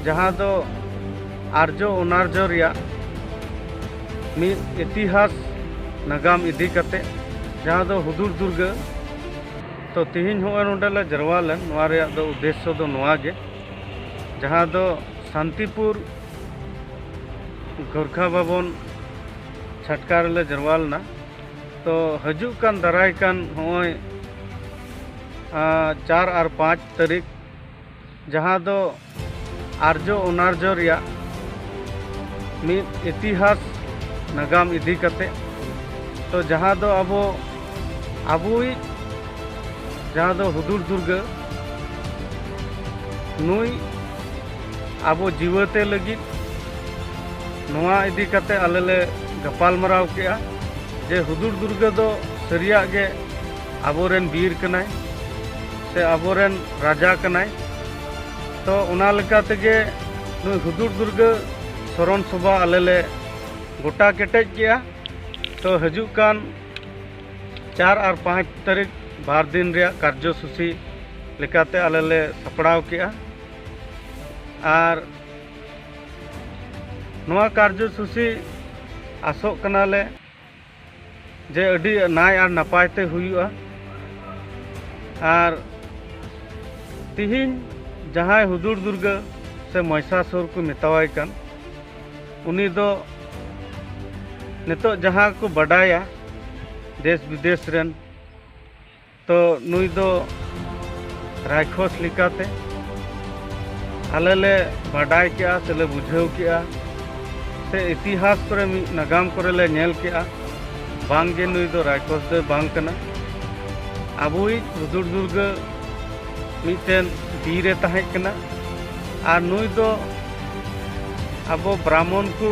ᱡᱟᱦᱟᱸ ᱫᱚ ᱟᱨᱡᱚ ᱚᱱᱟᱨᱡᱚ ᱨᱮᱭᱟᱜ ᱢᱤᱫ ᱤᱛᱤᱦᱟᱥ ᱱᱟᱜᱟᱢ ᱤᱫᱤ ᱠᱟᱛᱮ ᱡᱟᱦᱟᱸ ᱫᱚ ᱦᱩᱫᱩᱲ ᱫᱩᱨᱜᱟᱹ ᱛᱚ ᱛᱮᱦᱮᱧ ᱦᱚᱸᱜᱼᱚᱭ ᱱᱚᱰᱮ ᱞᱮ ᱡᱟᱨᱣᱟ ᱞᱮᱱ ᱱᱚᱣᱟ ᱨᱮᱭᱟᱜ ᱫᱚ ᱩᱫᱽᱫᱮᱥᱥᱚ ᱫᱚ ᱱᱚᱣᱟ ᱜᱮ ᱡᱟᱦᱟᱸ ᱫᱚ ᱥᱟᱱᱛᱤᱯᱩᱨ ᱜᱚᱨᱠᱷᱟ ᱵᱷᱚᱵᱚᱱ ᱪᱷᱟᱴᱠᱟ ᱨᱮᱞᱮ ᱡᱟᱨᱣᱟ ᱞᱮᱱᱟ ᱛᱚ ᱦᱤᱡᱩᱜ ᱠᱟᱱ ᱫᱟᱨᱟᱭ ᱠᱟᱱ ᱦᱚᱸᱜᱼᱚᱭ ᱪᱟᱨ ᱟᱨ ᱯᱟᱸᱪ ᱛᱟᱹᱨᱤᱠᱷ ᱡᱟᱦᱟᱸ ᱫᱚ ᱟᱨᱡᱚ ᱚᱱᱟᱨᱡᱚ ᱨᱮᱭᱟᱜ ᱢᱤᱫ ᱤᱛᱤᱦᱟᱥ ᱱᱟᱜᱟᱢ ᱤᱫᱤ ᱠᱟᱛᱮ ᱛᱚ ᱡᱟᱦᱟᱸ ᱫᱚ ᱟᱵᱚ ᱟᱵᱚᱭᱤᱡ ᱡᱟᱦᱟᱸ ᱫᱚ ᱦᱩᱫᱩᱲ ᱫᱩᱨᱜᱟᱹ ᱱᱩᱭ ᱟᱵᱚ ᱡᱤᱣᱟᱹᱛᱮ ᱞᱟᱹᱜᱤᱫ ᱱᱚᱣᱟ ᱤᱫᱤ ᱠᱟᱛᱮ ᱟᱞᱮ ᱞᱮ ᱜᱟᱯᱟᱞᱢᱟᱨᱟᱣ ᱠᱮᱜᱼᱟ ᱡᱮ ᱦᱩᱫᱩᱲ ᱫᱩᱨᱜᱟᱹ ᱫᱚ ᱥᱟᱹᱨᱤᱭᱟᱜ ᱜᱮ ᱟᱵᱚᱨᱮᱱ ᱵᱤᱨ ᱠᱟᱱᱟᱭ ᱥᱮ ᱟᱵᱚᱨᱮᱱ ᱨᱟᱡᱟ ᱠᱟᱱᱟᱭ ᱛᱚ ᱚᱱᱟ ᱞᱮᱠᱟ ᱛᱮᱜᱮ ᱱᱩᱭ ᱦᱩᱫᱩᱲ ᱫᱩᱨᱜᱟᱹ ᱥᱚᱨᱚᱱ ᱥᱚᱵᱷᱟ ᱟᱞᱮ ᱞᱮ ᱜᱚᱴᱟ ᱠᱮᱴᱮᱡ ᱠᱮᱜᱼᱟ ᱛᱚ ᱦᱤᱡᱩᱜ ᱠᱟᱱ ᱪᱟᱨ ᱟᱨ ᱯᱟᱸᱪ ᱛᱟᱹᱨᱤᱠᱷ ᱵᱟᱨ ᱫᱤᱱ ᱨᱮᱭᱟᱜ ᱠᱟᱨᱡᱚᱥᱩᱪᱤ ᱞᱮᱠᱟᱛᱮ ᱟᱞᱮ ᱞᱮ ᱥᱟᱯᱲᱟᱣ ᱠᱮᱜᱼᱟ ᱟᱨ ᱱᱚᱣᱟ ᱠᱟᱨᱡᱚᱥᱩᱪᱤ ᱟᱥᱚᱜ ᱠᱟᱱᱟᱞᱮ ᱡᱮ ᱟᱹᱰᱤ ᱱᱟᱭ ᱟᱨ ᱱᱟᱯᱟᱭ ᱛᱮ ᱦᱩᱭᱩᱜᱼᱟ ᱟᱨ ᱛᱤᱦᱤᱧ ᱡᱟᱦᱟᱸᱭ ᱦᱩᱫᱩᱲ ᱫᱩᱨᱜᱟᱹ ᱥᱮ ᱢᱚᱭᱥᱟᱥᱩᱨ ᱠᱚ ᱢᱮᱛᱟᱣᱟᱭ ᱠᱟᱱ ᱩᱱᱤ ᱫᱚ ᱱᱤᱛᱚᱜ ᱡᱟᱦᱟᱸ ᱠᱚ ᱵᱟᱰᱟᱭᱟ ᱫᱮᱥ ᱵᱤᱫᱮᱥ ᱨᱮᱱ ᱛᱚ ᱱᱩᱭ ᱫᱚ ᱨᱟᱭᱠᱷᱚᱥ ᱞᱮᱠᱟᱛᱮ ᱟᱞᱮ ᱞᱮ ᱵᱟᱰᱟᱭ ᱠᱮᱜᱼᱟ ᱥᱮ ᱞᱮ ᱵᱩᱡᱷᱟᱹᱣ ᱠᱮᱜᱼᱟ ᱥᱮ ᱤᱛᱤᱦᱟᱥ ᱠᱚᱨᱮ ᱢᱤᱫ ᱱᱟᱜᱟᱢ ᱠᱚᱨᱮ ᱞᱮ ᱧᱮᱞ ᱠᱮᱜᱼᱟ ᱵᱟᱝ ᱜᱮ ᱱᱩᱭ ᱫᱚ ᱨᱟᱭᱠᱷᱚᱥ ᱫᱚᱭ ᱵᱟᱝ ᱠᱟᱱᱟ ᱟᱵᱚᱭᱤᱡ ᱦᱩᱫᱩᱲ ᱫᱩᱨᱜᱟᱹ ᱢᱤᱫᱴᱮᱱ ᱵᱤᱨ ᱮ ᱛᱟᱦᱮᱸ ᱠᱟᱱᱟ ᱟᱨ ᱱᱩᱭ ᱫᱚ ᱟᱵᱚ ᱵᱨᱟᱦᱢᱚᱱ ᱠᱚ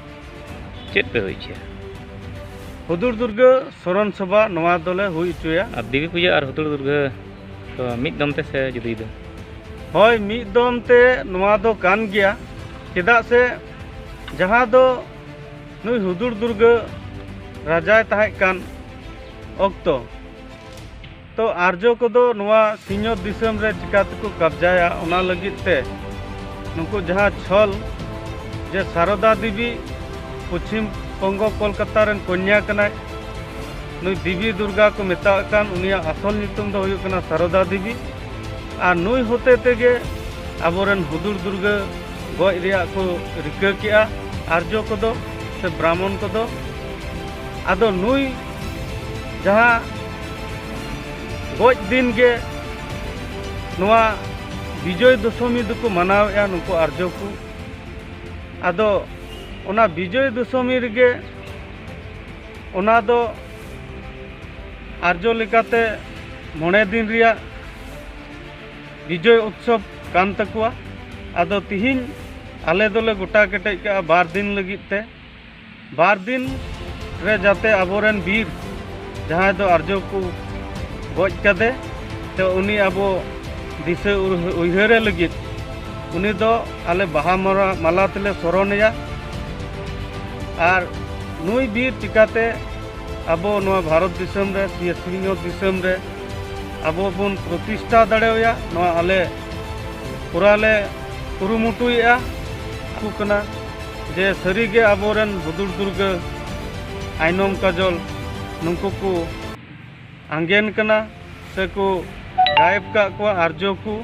ᱪᱮᱫ ᱯᱮ ᱦᱩᱭ ᱦᱚᱪᱚᱭᱟ ᱦᱩᱫᱩᱲ ᱫᱩᱨᱜᱟᱹ ᱥᱚᱨᱚᱱ ᱥᱚᱵᱷᱟ ᱱᱚᱣᱟ ᱫᱚᱞᱮ ᱦᱩᱭ ᱦᱚᱪᱚᱭᱟ ᱟᱨ ᱫᱮᱵᱤ ᱯᱩᱡᱟᱹ ᱟᱨ ᱦᱩᱫᱩᱲ ᱫᱩᱨᱜᱟᱹ ᱫᱚ ᱢᱤᱫ ᱫᱚᱢ ᱛᱮ ᱥᱮ ᱡᱩᱫᱟᱹ ᱡᱩᱫᱟᱹ ᱦᱳᱭ ᱢᱤᱫ ᱫᱚᱢ ᱛᱮ ᱱᱚᱣᱟ ᱫᱚ ᱠᱟᱱ ᱜᱮᱭᱟ ᱪᱮᱫᱟᱜ ᱥᱮ ᱡᱟᱦᱟᱸ ᱫᱚ ᱱᱩᱭ ᱦᱩᱫᱩᱲ ᱫᱩᱨᱜᱟᱹ ᱨᱟᱡᱟᱭ ᱛᱟᱦᱮᱸ ᱠᱟᱱ ᱚᱠᱛᱚ ᱛᱚ ᱟᱨᱡᱚ ᱠᱚᱫᱚ ᱱᱚᱣᱟ ᱥᱤᱧᱚᱛ ᱫᱤᱥᱚᱢ ᱨᱮ ᱪᱤᱠᱟ ᱛᱮᱠᱚ ᱠᱟᱵᱡᱟᱭᱟ ᱚᱱᱟ ᱞᱟᱹᱜᱤᱫ ᱛᱮ ᱱᱩᱠᱩ ᱡᱟᱦᱟᱸ ᱪᱷᱚᱞ ᱡᱮ ᱥᱟᱨᱚᱫᱟ ᱫᱮᱵᱤ ᱯᱚᱪᱷᱤᱢ ᱵᱚᱝᱜᱚ ᱠᱚᱞᱠᱟᱛᱟ ᱨᱮᱱ ᱠᱚᱱᱭᱟ ᱠᱟᱱᱟᱭ ᱱᱩᱭ ᱫᱮᱵᱤ ᱫᱩᱨᱜᱟ ᱠᱚ ᱢᱮᱛᱟᱜ ᱠᱟᱱ ᱩᱱᱤᱭᱟᱜ ᱟᱥᱚᱞ ᱧᱩᱛᱩᱢ ᱫᱚ ᱦᱩᱭᱩᱜ ᱠᱟᱱᱟ ᱥᱟᱨᱚᱫᱟ ᱫᱮᱵᱤ ᱟᱨ ᱱᱩᱭ ᱦᱚᱛᱮ ᱛᱮᱜᱮ ᱟᱵᱚᱨᱮᱱ ᱦᱩᱫᱩᱲ ᱫᱩᱨᱜᱟᱹ ᱜᱚᱡ ᱨᱮᱭᱟᱜ ᱠᱚ ᱨᱤᱠᱟᱹ ᱠᱮᱜᱼᱟ ᱟᱨᱡᱚ ᱠᱚᱫᱚ ᱥᱮ ᱵᱨᱟᱦᱢᱚᱱ ᱠᱚᱫᱚ ᱟᱫᱚ ᱱᱩᱭ ᱡᱟᱦᱟᱸ ᱜᱚᱡ ᱫᱤᱱ ᱜᱮ ᱱᱚᱣᱟ ᱵᱤᱡᱚᱭ ᱫᱚᱥᱚᱢᱤ ᱫᱚᱠᱚ ᱢᱟᱱᱟᱣᱮᱫᱼᱟ ᱱᱩᱠᱩ ᱟᱨᱡᱚ ᱠᱚ ᱟᱫᱚ ᱚᱱᱟ ᱵᱤᱡᱚᱭ ᱫᱚᱥᱚᱢᱤ ᱨᱮᱜᱮ ᱚᱱᱟ ᱫᱚ ᱟᱨᱡᱚ ᱞᱮᱠᱟᱛᱮ ᱢᱚᱬᱮ ᱫᱤᱱ ᱨᱮᱭᱟᱜ ᱵᱤᱡᱚᱭ ᱩᱛᱥᱚᱵ ᱠᱟᱱ ᱛᱟᱠᱚᱣᱟ ᱟᱫᱚ ᱛᱤᱦᱤᱧ ᱟᱞᱮ ᱫᱚᱞᱮ ᱜᱚᱴᱟ ᱠᱮᱴᱮᱡ ᱠᱟᱜᱼᱟ ᱵᱟᱨ ᱫᱤᱱ ᱞᱟᱹᱜᱤᱫ ᱛᱮ ᱵᱟᱨ ᱫᱤᱱ ᱨᱮ ᱡᱟᱛᱮ ᱟᱵᱚᱨᱮᱱ ᱵᱤᱨ ᱡᱟᱦᱟᱸᱭ ᱫᱚ ᱟᱨᱡᱚ ᱠᱚ ᱜᱚᱡ ᱠᱟᱫᱮ ᱛᱮ ᱩᱱᱤ ᱟᱵᱚ ᱫᱤᱥᱟᱹ ᱩᱭᱦᱟᱹᱨᱮ ᱞᱟᱹᱜᱤᱫ ᱩᱱᱤ ᱫᱚ ᱟᱞᱮ ᱵᱟᱦᱟ ᱢᱟᱞᱟ ᱛᱮᱞᱮ ᱥᱚᱨᱚᱱᱮᱭᱟ ᱟᱨ ᱱᱩᱭ ᱵᱤᱨ ᱪᱤᱠᱟᱛᱮ ᱟᱵᱚ ᱱᱚᱣᱟ ᱵᱷᱟᱨᱚᱛ ᱫᱤᱥᱚᱢ ᱨᱮ ᱥᱮ ᱥᱤᱧᱚᱛ ᱫᱤᱥᱚᱢ ᱨᱮ ᱟᱵᱚ ᱵᱚᱱ ᱯᱨᱚᱛᱤᱥᱴᱷᱟ ᱫᱟᱲᱮᱣᱟᱭᱟ ᱱᱚᱣᱟ ᱟᱞᱮ ᱯᱩᱨᱟᱹ ᱞᱮ ᱠᱩᱨᱩᱢᱩᱴᱩᱭᱮᱫᱼᱟ ᱠᱟᱱᱟ ᱡᱮ ᱥᱟᱹᱨᱤ ᱜᱮ ᱟᱵᱚ ᱨᱮᱱ ᱦᱩᱫᱩᱲ ᱫᱩᱨᱜᱟᱹ ᱟᱭᱱᱚᱢ ᱠᱟᱡᱚᱞ ᱱᱩᱠᱩ ᱠᱚ ᱟᱸᱜᱮᱱ ᱠᱟᱱᱟ ᱥᱮ ᱠᱚ ᱜᱟᱭᱮᱵ ᱠᱟᱜ ᱠᱚᱣᱟ ᱟᱨᱡᱚ ᱠᱚ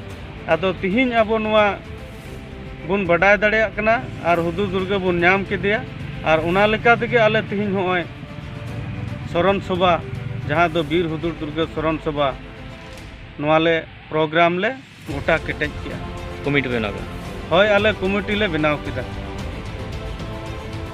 ᱟᱫᱚ ᱛᱤᱦᱤᱧ ᱟᱵᱚ ᱱᱚᱣᱟ ᱵᱚᱱ ᱵᱟᱰᱟᱭ ᱫᱟᱲᱮᱭᱟᱜ ᱠᱟᱱᱟ ᱟᱨ ᱦᱩᱫᱩᱲ ᱫᱩᱨᱜᱟᱹ ᱵᱚᱱ ᱧᱟᱢ ᱠᱮᱫᱮᱭᱟ ᱟᱨ ᱚᱱᱟ ᱞᱮᱠᱟ ᱛᱮᱜᱮ ᱟᱞᱮ ᱛᱤᱦᱤᱧ ᱦᱚᱸᱜᱼᱚᱭ ᱥᱚᱨᱚᱱ ᱥᱚᱵᱷᱟ ᱡᱟᱦᱟᱸ ᱫᱚ ᱵᱤᱨ ᱦᱩᱫᱩᱲ ᱫᱩᱨᱜᱟᱹ ᱥᱚᱨᱚᱱ ᱥᱚᱵᱷᱟ ᱱᱚᱣᱟ ᱞᱮ ᱯᱨᱳᱜᱨᱟᱢ ᱞᱮ ᱜᱚᱴᱟ ᱠᱮᱴᱮᱡ ᱠᱮᱜᱼᱟ ᱠᱚᱢᱤᱴᱤ ᱵᱮᱱᱟᱣ ᱠᱮᱫᱟ ᱦᱳᱭ ᱟᱞᱮ ᱠᱚᱢᱤᱴᱤ ᱞᱮ ᱵᱮᱱᱟᱣ ᱠᱮᱫᱟ